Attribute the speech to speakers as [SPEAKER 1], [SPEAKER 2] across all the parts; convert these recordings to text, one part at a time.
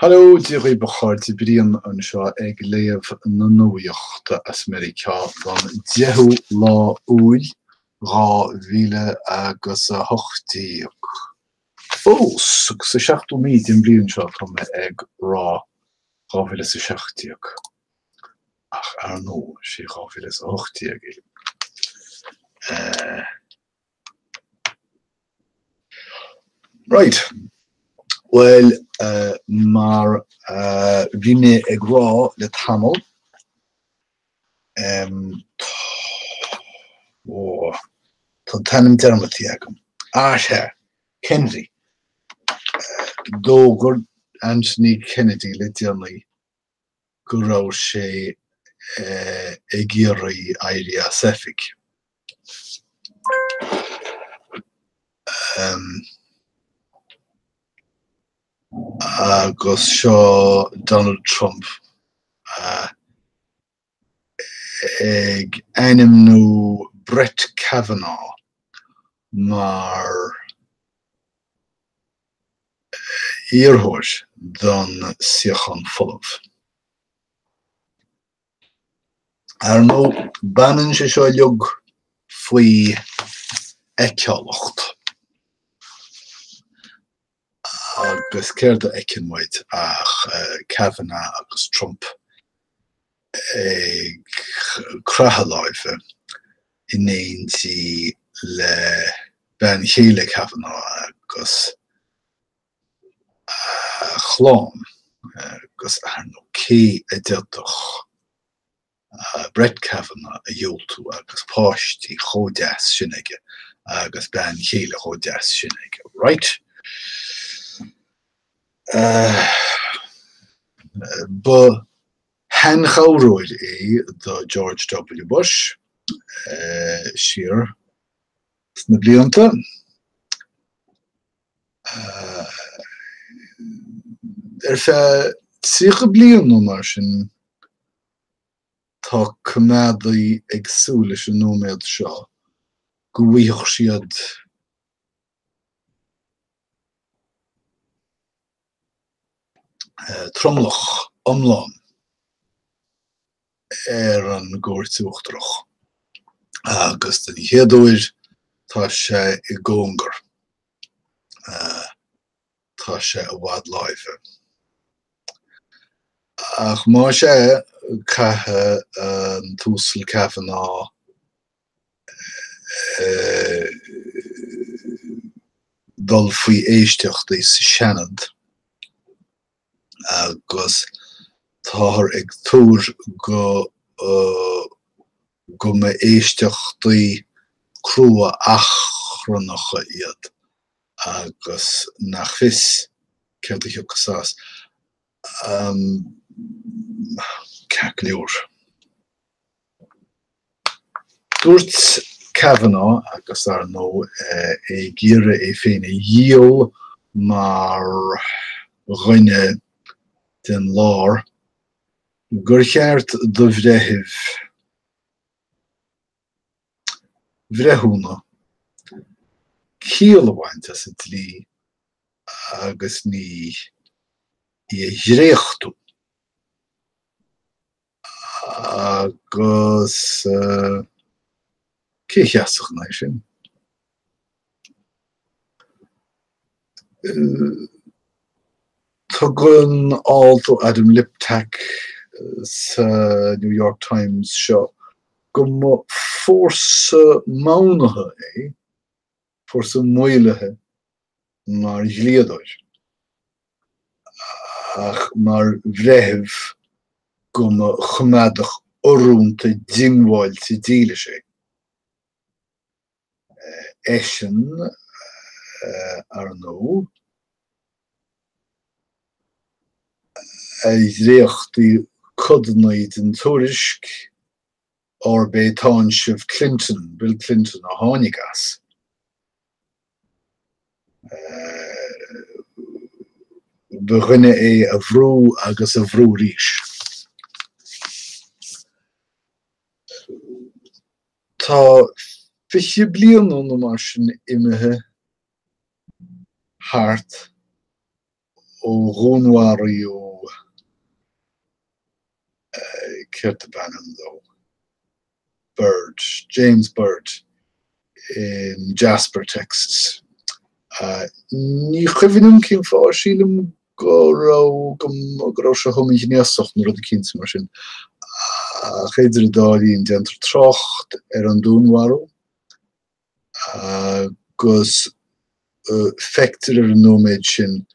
[SPEAKER 1] Hello, Dia dhaoibh a chairde, Brian anseo ag léamh na nuaíochta as Meiriceá don 10ú lá Iúil 2018. Fós, sa seachtú mí den bhliain seo atá mé ag rá dhá mhíle is a seacht déag, ach ar ndóigh, sé dhá mhíle is a hocht déag é. Right. Bhuel, mar a bhí mé ag rá le tamall, tá an t-ainm dearmadta agam. Ah, sea, Kennedy. D'fhógair Anthony Kennedy le déanaí go raibh sé ag iarraidh éirí as oifig. Agus seo Donald Trump ag ainmniú Brett Kavanagh mar iarrthóir don suíochán folamh. Ar ndóigh, baineann sé seo uilig faoi fheiceálacht. Agus céard a fheiceann muid ach Kavanagh agus Trump ag craitheadh láimhe in éindí le bean chéile Kavanagh agus a chlann, agus, ar ndóigh, cé a d'fhéadfadh Brett Kavanagh a dhiúltú agus páistí chomh deas sin aige agus bean chéile chomh deas sin aige. Right. Ba sheanchabhróir é do George W. Bush siar sna blianta. Ar feadh tríocha bliain nó mar sin. Tá coimeádaigh ag súil leis an nóiméad seo, go bhfaigheadh siad tromlach iomlán ar an gCúirt Uachtarach, agus den chéad uair, tá sé i gcóngar. Tá sé i bhfad láimhe. Ach más ea, caithfidh an tUasal Kavanaugh dul faoi éisteachtaí sa Seanad agus táthar ag tuar go go mba éisteachtaí crua achrannacha iad agus nach fios céard a thiocfas as. Ceart go leor, dúirt Kavanaugh, agus ar ndóigh é ag iarraidh é féin a dhíol mar dhuine den lár, gur cheart do bhreitheamh. bhreithiúna, ciall a bhaint as an dlí agus ní í a dhréachtú, agus cé a sheasfadh ina aghaidh sin? Tugann alt ó Adam Liptak sa New York Times seo go mba fórsa modhnaithe é fórsa maolaithe mar dhlíodóir, ach mar bhreitheamh go mba choimeádach urrúnta diongbháilte dílis é. eisean, ar ndóigh, a dhréachtaigh codanna den tuairisc arb é táinseamh Clinton, Bill Clinton, a tháinig as. Ba dhuine é a bhrú agus a bhrú arís. Tá fiche bliain nó mar sin imithe thart ó dhúnmharaigh Ó, céard ab ainm dó? Byrd, James Byrd in Jasper, Texas. Ní chuimhním cén fáth, sílim go raibh sé homaighnéasach nó rud eicínt mar sin. Ach idir an dá linn déantar trácht ar an dúnmharú agus feictear ar an nóiméad sin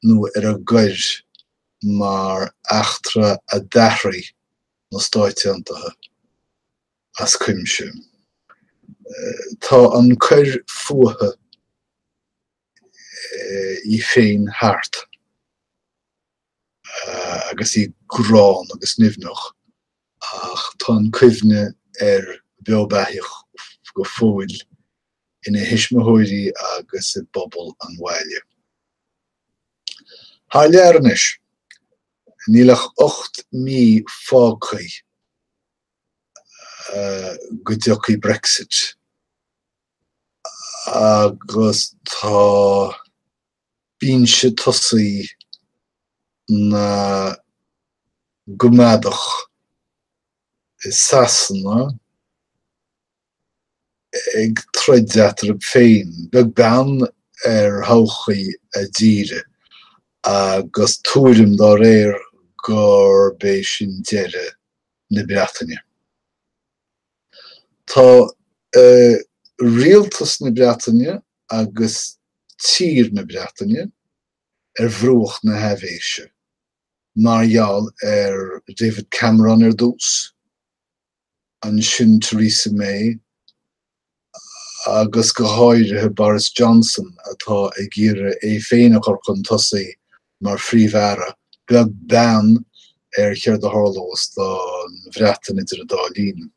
[SPEAKER 1] nó ar an gcoir mar eachtra a d'athraigh na Stáit Aontaithe as cuimse. Tá an choir fuatha í féin thart agus í gránna agus nimhneach ach tá an cuimhne beo beathaíoch go fóill ina thuismitheoirí agus i bpobal an bhaile. Thar lear anois, níl ach ocht mí fágthaí go dtiocfaidh Brexit. agus tá binse tosaigh na gCoimeádach i Sasana ag troid eatarthu féin, beag beann ar thodhchaí a dtíre, agus tuairim dá réir gurb é sin deireadh na Breataine. Tá Rialtas na Breataine agus tír na Breataine ar bhruach na haibhéise, mar gheall ar David Cameron ar dtús, ansin Theresa May agus go háirithe Boris Johnson atá ag iarraidh é féin a chur chun tosaigh mar Phríomh-Aire, beag beann ar céard a tharlós don Bhreatain idir an dá linn.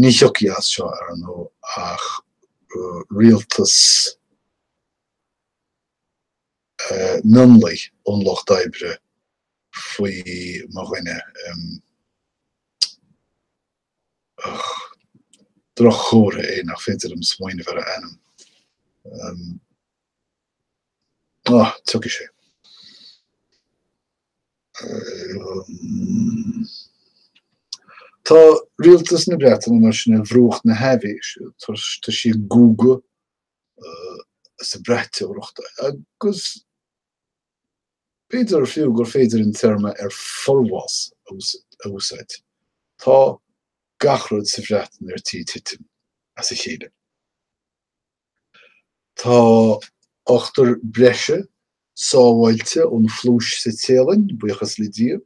[SPEAKER 1] Ní thiocfaidh as seo, ar ndóigh, ach rialtas mionlaigh ón Lucht Oibre faoi mo dhuine. Droch-chomhartha é nach féidir liom smaoineamh ar a ainm. Ah, tiocfaidh sé. Tá rialtas na Breataine mar sin ar bhruach na haibhéise tá sí ag guagadh, sa bhraiteoireacht agus b'fhéidir fiú gur féidir an téarma ar forbhás a úsáid. Tá gach rud sa Bhreatain ar tí titim as a chéile. Tá ochtar breise sábháilte ón phluais sa Téalainn, buíochas le Dia.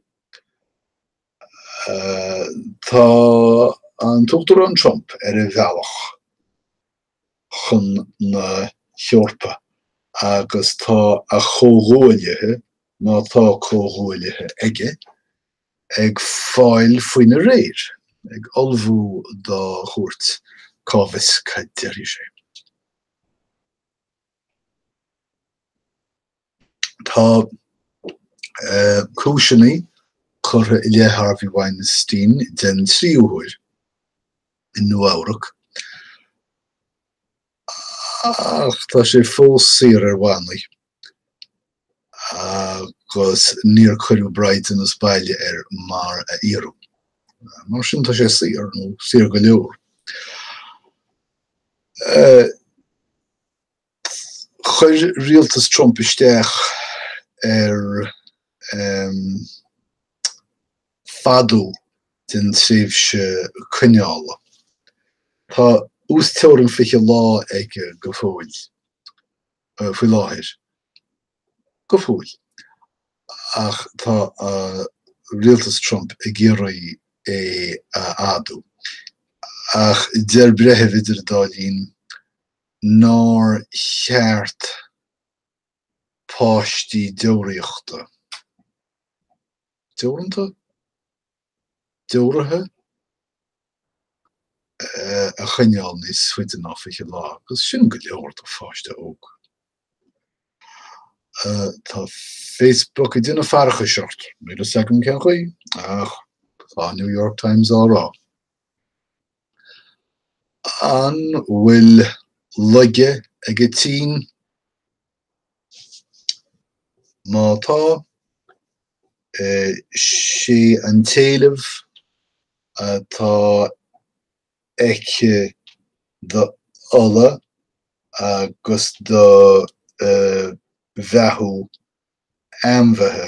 [SPEAKER 1] Tá an tUachtarán Trump ar a bhealach chun na hEorpa agus tá a chomhghuaillithe, má tá comhghuaillithe aige, ag fáil faoina réir ag ullmhú dá chuairt, cá bhfios cad a déarfaidh sé. Tá cúiseanna curtha i leith Harvey Weinstein den tríú huair i Nua-Eabhrac. Ach tá sé fós saor ar bhannaí agus níor cuireadh braighdeanas baile air mar a iarradh. Mar sin tá sé saor, nó saor go leor. Chuir rialtas Trump isteach ar um fhadú den tréimhse coinneála. Tá uasteorainn 20 lá aige go fóill, faoi láthair, go fóill, ach tá rialtas Trump ag iarraidh é a fhadú. Ach deir breitheamh idir an dá linn nár cheart. páistí deoraíochta. deoranta? deoraithe? a choinneáil níos faide ná 20 lá, agus sin go leor do pháiste óg. Tá Facebook ag déanamh faireachais ort, níl a fhios agam cén chaoi, ach tá New York Times á rá. An bhfuil laige ag an tSín? Má tá, sé an t-éileamh atá aici d'ola agus do bheathú ainmhithe.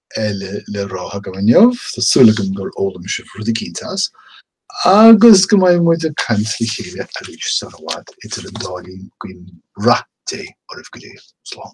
[SPEAKER 1] eile le rá agam inniu, tá súil agam gur fhoghlaim sibh rud eicínt as, agus go mbeidh muid ag caint le chéile arís sar i bhfad. Idir an dá linn, guím rath Dé oraibh go léir. Slán.